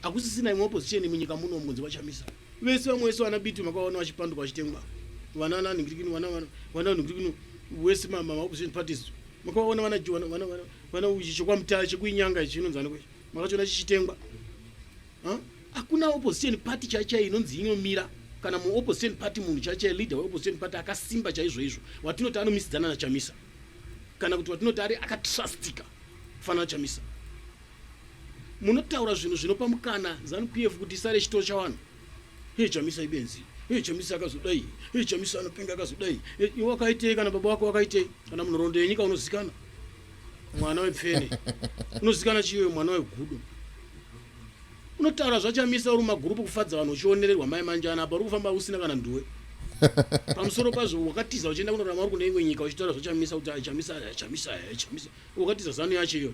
Hakusisina imwe opposition munyika muno mukunzi vachamisa. Vese vamwe vese vana biti makaona vachipanduka vachitengwa. Vana nani ngiri kino vana vana vana ngiri kino wese mama opposition parties. Makaona vana vana vana vana vana uchi chokwa mutaya chekuinyanga ichi inonzi anokwe. Makachiona chichitengwa. Huh? Hakuna opposition party chaicha inonzi inomira kana mu opposition party munhu chaicha leader we opposition party akasimba chaizvo izvo watinoti anomisidzana na Chamisa kana kuti watinoti ari akatrustika kufana na Chamisa. munotaura zvinhu zvinopa mukana zanu pf kuti isare chitoro chavanhu hei chamisa ibenzi hei chamisa akazodai hei chamisa anopenga akazodai iwe wakaitei kana baba wako wakaitei kana munhorondo yenyika unozikana mwana wepfene unozikana chiiwe mwana wegudo unotaura zvachamisa uri magurupu kufadza vanhu uchionererwa mai manjana apa uri kufamba usina kana nduwe pamusoro pazvo wakatiza uchienda kunorama uri kune imwe nyika uchitaura zvachamisa kuti chamisa chamisa chamisa wakatiza zanu yacho iyoyo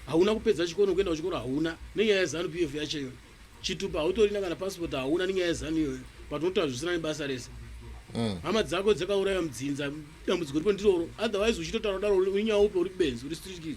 hauna kupedza chikoro kuenda kuchikoro hauna nenyaya yezanu pf yacho iyoyo chitupa hautorina kana passport hauna nenyaya yezanu iyoyo but unotaura zvisina nebasa rese mm. hama dzako dzakauraya mudzinza dambudziko riko ndiroro otherwise uchitotaura kudaro unyaya upe uri benzi uri strikis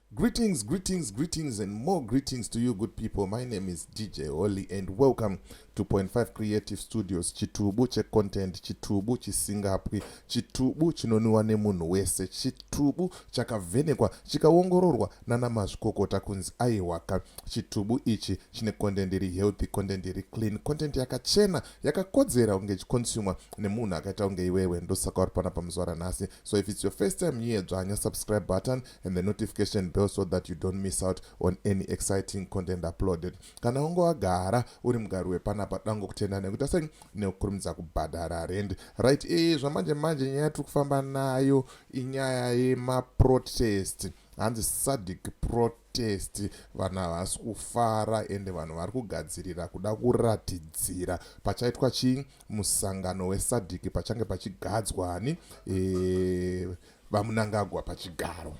Greetings, greetings, greetings and more greetings to you good people. My name is DJ Holly and welcome to Point 5 Creative Studios. Chitubu che content, chitubu chisingapwi, chitubu chinoniwa nemunhu wese, chitubu chakavhenekwa, chikaongororwa nana mazvikokota kunzi aiwaka. Chitubu ichi chine content iri healthy, content iri clean, content yakachena, yakakodzera kunge ichiconsumer nemunhu akaita kunge iwewe. Ndosaka uri pana pamuzuva ranhasi. So if it's your first time here, dzvanya subscribe button, and the notification bell so that you don't miss out on any exciting content uploaded kana unge wagara uri mugari wepanapa dango kutenda nekuita sei nekukurumidza kubhadhara rend right ee zvamanje manje nyaya tiri kufamba nayo inyaya yemaprotest hanzi sadic protest vanhu havasi kufara ende vanhu vari kugadzirira kuda kuratidzira pachaitwa chii musangano wesadic pachange pachigadzwani ee eh, VaMnangagwa pachigaro.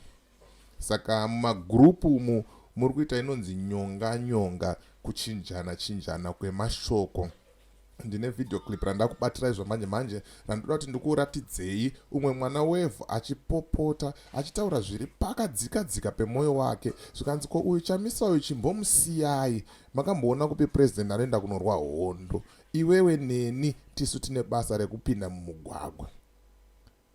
Saka mumagroup umu muri kuita inonzi nyonga nyonga kuchinjana chinjana kwemashoko ndine video clip randakubatirai zvamanje manje randoda kuti ndikuratidzei umwe mwana wevhu achipopota achitaura zviri pakadzika dzika pemwoyo wake zvikanzi ko uyu chamisa uyu chimbomusiyai makamboona kupi purezidenti anoenda kunorwa hondo iwewe neni tisu tine basa rekupinda mumugwagwa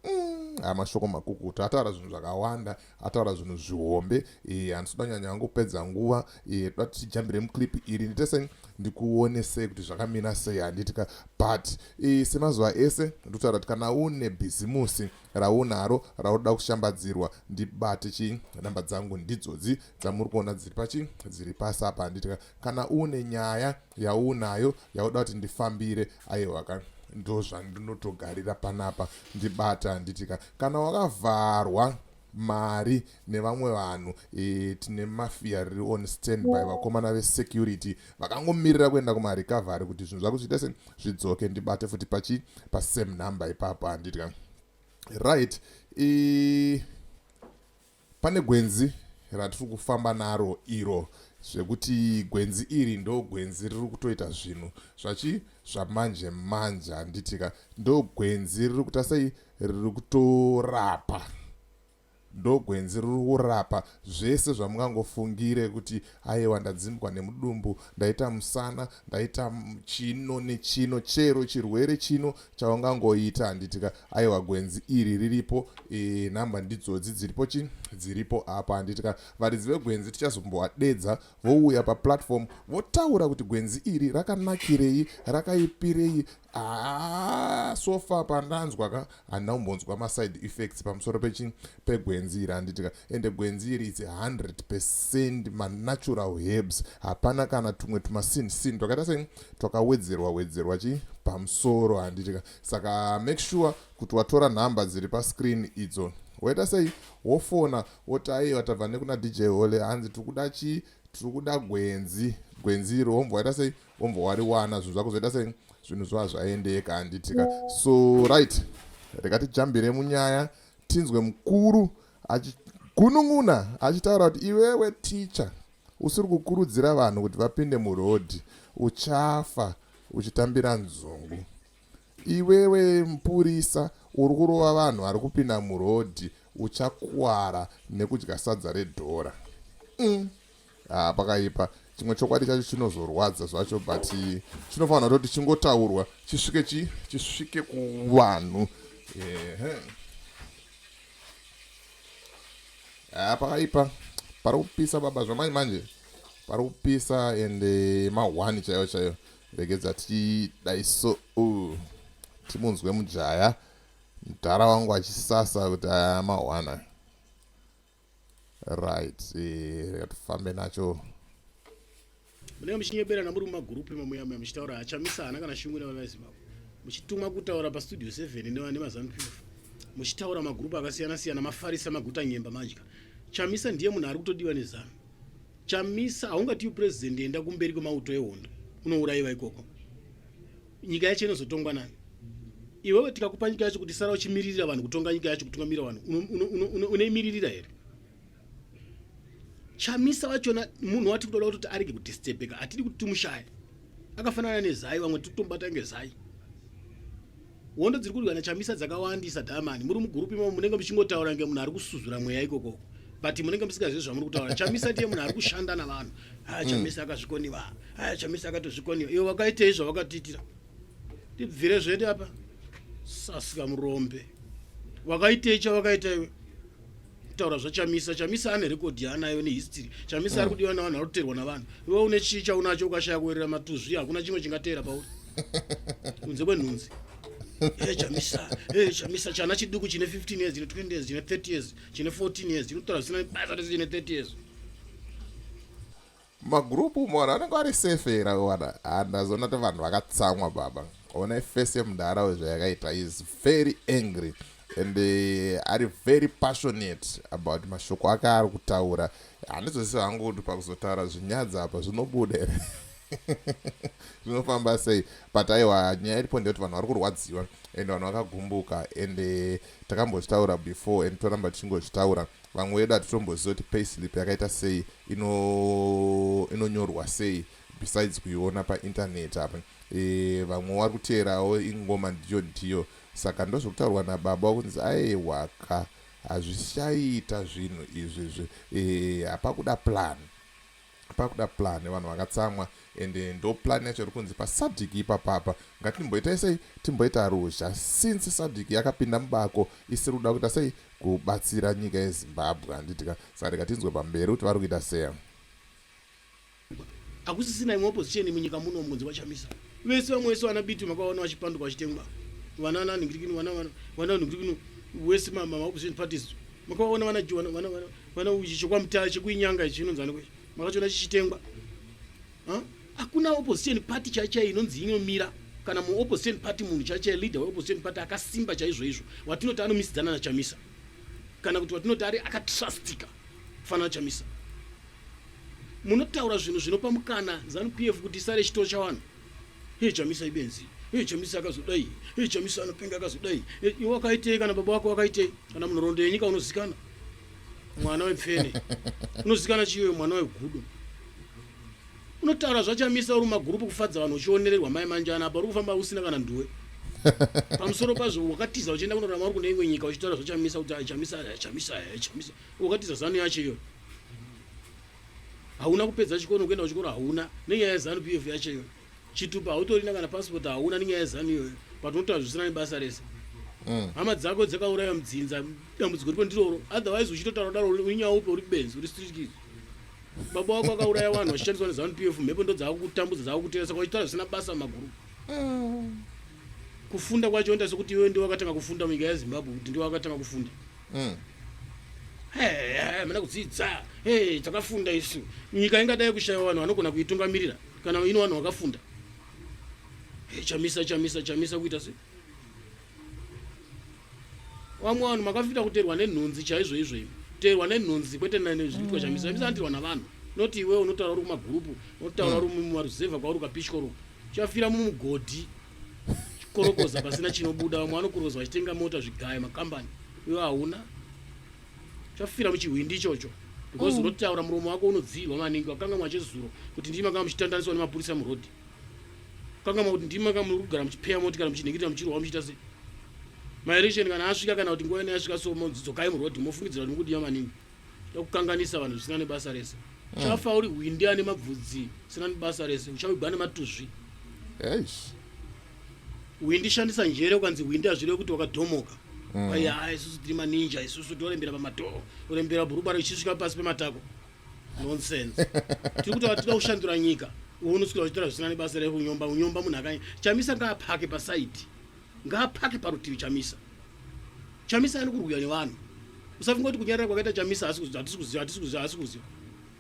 Mm, aya mashoko makukutu ataura zvinhu zvakawanda ataura zvinhu zvihombe eh, handisi kuda nyanya yangu kupedza nguva eh, toda tichijambire muclip iri nditese ndikuone sei kuti zvakamira sei handitika but eh, semazuva ese ndotaura kuti kana une bhizimusi raunaro raunoda kushambadzirwa ndibate chii namba dzangu ndidzodzi dzamuri kuona dziri pachii dziri pasi apa handitika kana une nyaya yaunayo yauda kuti ndifambire aiwa ka ndozvandinotogarira panapa ndibata handiti ka kana wakavharwa mari nevamwe vanhu e, tine mafia riri on standby vakomana vesecurity vakangomirira kuenda kumarecovery kuti zvinhu zvako zviita se zvidzoke ndibate futi pachi pasame number ipapo handitya right e, Pane gwenzi ratiri kufamba naro iro zvekuti gwenzi iri ndo gwenzi riri kutoita zvinhu zvachi zvamanje manje handitika ndo gwenzi riri kuita sei riri kutorapa ndo gwenzi riri kurapa zvese zvamungangofungire kuti Ayewa ndadzimbwa nemudumbu, ndaita musana, ndaita chino nechino, chero chirwere chino chaungangoita handiti ka. Ayewa gwenzi iri riripo, e, nhamba ndidzodzi dziripo chi, dziripo apa handiti ka. Varidzi vegwenzi tichazombovadedza vouya paplatform votaura kuti gwenzi iri rakanakirei, rakaipirei, Ah, so far pandanzwa ka handina kumbonzwa maside effects pamusoro pechi pegwenzi iri handiti ka ende gwenzi iri its 100 percent manatural herbs hapana kana tumwe tumasin sin twakaita sei twakawedzerwa wedzerwa chi pamusoro handiti ka saka make sure kuti watora nhamba dziri pascreen idzo woita sei wofona woti aiwa tabva nekuna dj hole hanzi tiri kuda chii tiri kuda gwenzi gwenzi iri womboita sei wombva wariwana zvinhu zvako zvoita sei zvinhu zvova zvaendeka handitika so right rega tijambire munyaya tinzwe mukuru achigunun'una achitaura kuti iwewe ticha usiri kukurudzira vanhu kuti vapinde murodhi uchafa uchitambira nzungu iwewe mupurisa uri kurova vanhu vari kupinda murodhi uchakwara nekudya sadza redhora mm. ah, pakaipa chimwe chokwadi chacho chinozorwadza zvacho but chinofanira toti chingotaurwa chisvike chi chisvike kuvanhu ehe ah, pakaipa pari kupisa baba zvamanje manje pari kupisa and eh, mahwani chaiyo chaiyo regedza tidai so uh, timunzwe mujaya mdhara wangu achisasa kuti aya ah, mahwana right eh, tifambe nacho munenge muchinyeberana muri mumagurupu emamuyamuya muchitaura achamisa hana kana shungu nevanazimbabwe muchitumwa kutaura pastudio 7 nemazanu 12 muchitaura magurupu akasiyana siyana mafarisa maguta nyemba madya chamisa ndiye munhu ari kutodiwa nezanu chamisa haungatiwi president enda kumberi kwemauto ehondo unourayiva ikoko nyika yacho inozotongwa nani iwewe tikakupa nyika yacho kuti sara uchimiririra vanhu kutonga nyika yacho kutungamirira vanhu unoimiririra here chamisa vachona munhu wati kutoda kutoti arege kudistebeka hatidi kuti timushaye akafanana nezai vamwe titombata ngezai hondo dziri kurwiwa nachamisa dzakawandisa dhamani muri mugurupi mavo munenge muchingotaura nge munhu ari kusuzura mweya ikokoko but munenge musingazivi zvamuri kutaura chamisa ndiye munhu ari kushanda navanhu ha ah, chamisa akazvikoniva aya chamisa akatozvikoniwa iwe wakaitei zvawakatiitira tibvire zvedu apa sasika murombe wakaitei chawakaita iwe taura zvachamisa chamisa ane rekodhi yaanayo nehistory chamisa ari kudiwa navanhu ari kuteerwa navanhu iwe une chii chaunacho ukashaya kuwerera matuzvi hakuna chimwe chingateera pauri kunze kwenhunzi eh, chamisa eh, chamisa chana chiduku chine 15 years chine 20 years chine 30 years chine 14 years chinotaura zvisina basa rese chine 30 years mumagroup umo vanhu vanenge vari safe here wana ah, ndazoona kuti vanhu vakatsamwa baba ona ifesi yemudhara uyu zvayakaita is very angry and uh, ari very passionate about mashoko ake ari kutaura handizvese hangu kuti pakuzotaura zvinyadza apa zvinobuda here zvinofamba sei but aiwa nyaya iripo ndeyekuti vanhu vari kurwadziwa and vanhu vakagumbuka and eh, takambozvitaura before and toramba tichingozvitaura Vamwe vedu hatitombozivi kuti payslip yakaita sei ino inonyorwa sei besides kuiona painternet apa e, vamwe wari kuteerawo ingoma ndiyo ndiyo saka ndozvekutaurwa nababa kunzi aewaka hazvichaita zvinhu izvi zve e, hapakuda plan pakuda plan vanhu vakatsamwa and ndo plan yacho iri kunzi pasadhiki ipapapa ngatimboitai sei timboita ruzha since sadhiki yakapinda mubako isiri kuda kuita sei kubatsira nyika yezimbabwe handitika saka rega tinzwe pamberi kuti vari kuita sei hakusisina imwe opposition munyika muno mukunzi vachamisa vese vamwe vese vana biti makavaona vachipanduka vachitengwa vana nanhingirikini vana vana vanhingirikini wese mama opposition parties makavaona vana Mwana uchi chekwa mutara chekuinyanga ichi inonzi aniko makachiona chichitengwa hakuna opposition party chaichai inonzi inomira kana muopposition party munhu chaichai leader weopposition party akasimba chaizvoizvo watinoti anomisidzana nachamisa kana kuti watinoti ari akatrustika kufanana chamisa munotaura zvinhu zvinopa mukana zanupf kuti isare chitoro chavanhu Hii Chamisa ibenzi. Hii Chamisa akazodai. Hii Chamisa anopenga akazodai. Eh, iwe wakaitei kana baba wako wakaitei? Kana munhoroondo yenyika unozikana. Mwana wepfene. Unozikana chiyo mwana wegudo. Unotaura zvachamisa uri magurupu kufadza vanhu uchionererwa mai manjana apa uri kufamba usina kana nduwe. Pamusoro pazvo wakatiza uchienda kunorama uri kune imwe nyika uchitaura zvachamisa kuti chamisa chamisa chamisa. Wakatiza zanu yacho iyoyo. hauna kupedza chikoro kuenda kuchikoro hauna nenyaya yezanu p of yacho iyoyo chitupa hautorina kana pasipoti hauna nenyaya yezanu iyoyo but unotoazvisina nebasa rese mm. hama dzako dzakauraya mudzinza dambudziko ripo ndiroro otherwise uchitotaura daro unyaya upe uri benzi uri stritikizi baba wako akauraya vanhu vachishandiswa nezanu p of mhepo ndo dzaakukutambudza dzaakukutengesa kwachitaura zvisina basa maguru mm. kufunda kwacho nda sekuti iwe ndiwe wakatanga kufunda munyika yezimbabwe kuti ndiwe wakatanga kufunda mm. hamina kudzidza takafunda isu nyika ingadai kushaiwa vanhu vanogona kuitungamirira kana ino vanhu vakafunda chamisa chamisa chamisa kuita se vamwe vanhu makafita kuterwa nenhunzi chaizvo izvo imi terwa nenhunzi kwete nezviitwa chamisa chamisa anoterwa navanhu noti iwewe unotaura uri kumagurupu unotaura uri mumaruzevha kwauri ukapishwa ru chafira mumugodhi korokoza pasina chinobuda vamwe vanokuroza vachitenga mota zvigaya makambani iwe hauna chafira muchihwindi ichocho because mm. unotaura muromo wako unodziirwa maningi wakanga mwachezuro kuti ndii makanga muchitandaniswa nemapurisa murodhi kanga makuti ndii makanga muri kugara muchipeya moti kana muchinhingirira muchirwa muchiita sei maeresheni kana asvika kana kuti nguva ina yasvika so dzokai murodhi mofungidzira kuti mukudiwa maningi ndokukanganisa vanhu zvisina nebasa rese mm. chafa uri hwindi ane mabvudzi sina nebasa rese uchavigwa nematuzvi yes. hwindi shandisa njere ukanzi hwindi hazvireve kuti wakadhomoka mm. aiya mm. isusu tiri maninja isusu torembera pamadhoo torembera bhurubara ichisvika pasi pematako nonsense tiri kuti tida kushandura nyika unosvika uchitaura zvisina nebasa rekunyomba unyomba munhu akanya chamisa ngaapake pasaidi Ngaapake parutivi Chamisa. Chamisa ari kurwira nevanhu. Usafunga kuti kunyarara kwakaita Chamisa asi kuziva atisi kuziva atisi kuziva asi kuziva.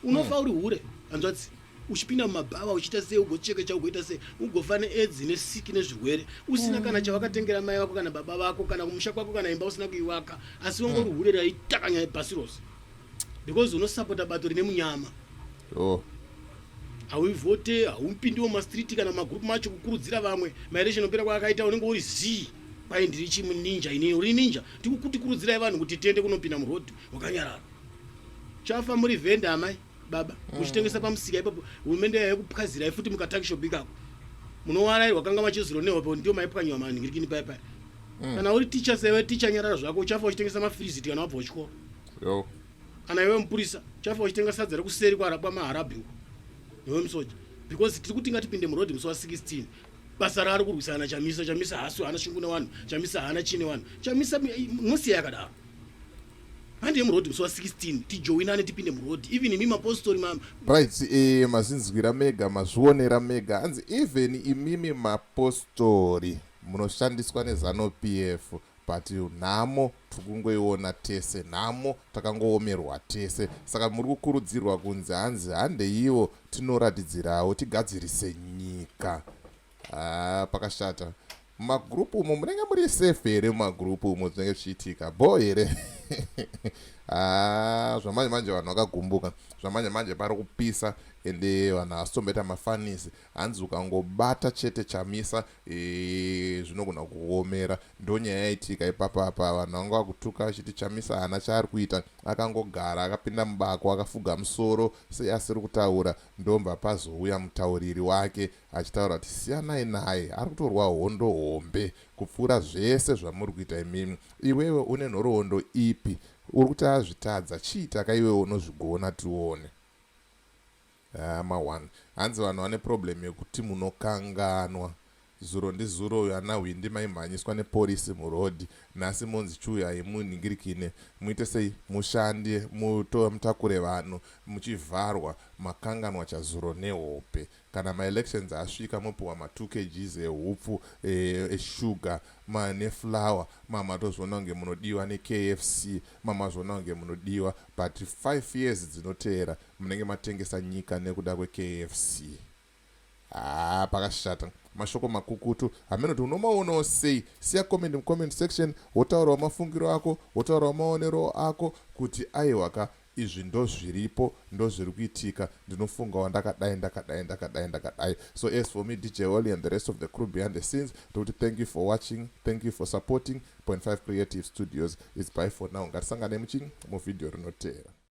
Unofa hmm. uri hure hanzvadzi. Uchipinda mumabhava uchiita sei ugocheka cha ugoita sei ugofa needzi nesiki nezvirwere usina kana hmm. chawakatengera mai vako kana baba vako kana kumusha kwako kana imba usina kuivaka asi wongo uri hmm. hure raitakanya pasi rose because unosapota bato rine munyama. Oh. hauivote haupindiwo mumastreet kana mumagroup macho kukurudzira vamwe maelection opera kwaakaita unenge uri zii kwai ndiri chimuninja inini uri ninja tikukutikurudzirai vanhu kuti tiende kunopinda muroad wakanyarara chafa muri vhenda amai baba mm. muchitengesa pamusika ipapo hurumende yaive kupwazirai futi mukatakishopi ikako munowarairwa kanga machizironewa po ndiyo maipwanyiwa manhirikini paya paya mm. kana uri ticha sewe ticha nyarara zvako uchafa uchitengesa mafrizit kana wabva uchikoro kana iwe mupurisa chafa uchitenga sadza rekuseri kwarapwa maharabhi uko newe musoja because tiri kuti ngatipinde muroad musi wa 16 basa raari kurwisana na chamisa chamisa haasi haana shungu nevanhu chamisa haana chii nevanhu chamisa mosiya yakadaro handi yemuroad musi wa 16 tijoinane tipinde muroad even imi mapostori mama right e, mazinzwira mega mazvionera mega hanzi even imimi mapostori munoshandiswa nezanupf But nhamo tiri kungoiona tese, nhamo takangoomerwa tese. Saka muri kukurudzirwa kunzi hanzi handeiwo tinoratidzirawo tigadzirise nyika. Haa pakashata. Mumagroup umo munenge muri safe here mumagroup umo zvinenge zvichiitika bho here? Haa zvamanje manje vanhu vakagumbuka. Zvamanje manje pari kupisa ende vanhu havasi tomboita mafanisi. Hanzi ukangobata chete Chamisa eeh zvinogona kukuomera. Ndonyaya yaitika ipapa apa vanhu vanga vakutuka vachiti Chamisa haana chaari kuita akangogara akapinda mubako akafuga musoro seasiri kutaura ndobva pazouya mutauriri wake achitaura kuti siyanai naye ari kutorwa hondo hombe kupfuura zvese zvamuri kuita imimi. Iwewe une nhoroondo ipi? Uri kuti azvitadza chiita ka iwewe unozvigona tione. Haa ma one. Hanzi vanhu vane problem yekuti munokanganwa. Zuro ndi zuro uyo ana hwindi maimhanyiswa ne porisi mu road. Nhasi monzi chuyu haimu nhingirikine. Muite sei? Mushande muto mutakure vanhu muchivharwa. Makanganwa cha zuro ne hope. Kana ma elections asvika mopiwa ma two kgs e hupfu e e sugar ma ne flour ma matozviona kunge munodiwa ne KFC ma mazviona kunge munodiwa but five years dzinoteera munenge matengesa nyika nekuda kwekfc haa pakashata mashoko makukutu hameno kuti unomaonawo sei siya comment mucomment section wotaurawo mafungiro ako wotaurawo maonero ako kuti aiwaka izvi ndozviripo ndozviri kuitika ndinofungawo ndakadai ndakadai ndakadai ndakadai so as for me dj oli and the rest of the crew behind the scenes tokuti thank you for watching thank you for supporting 5 creative studios is by for now ngatisanganei muchini muvhidhiyo rinoteera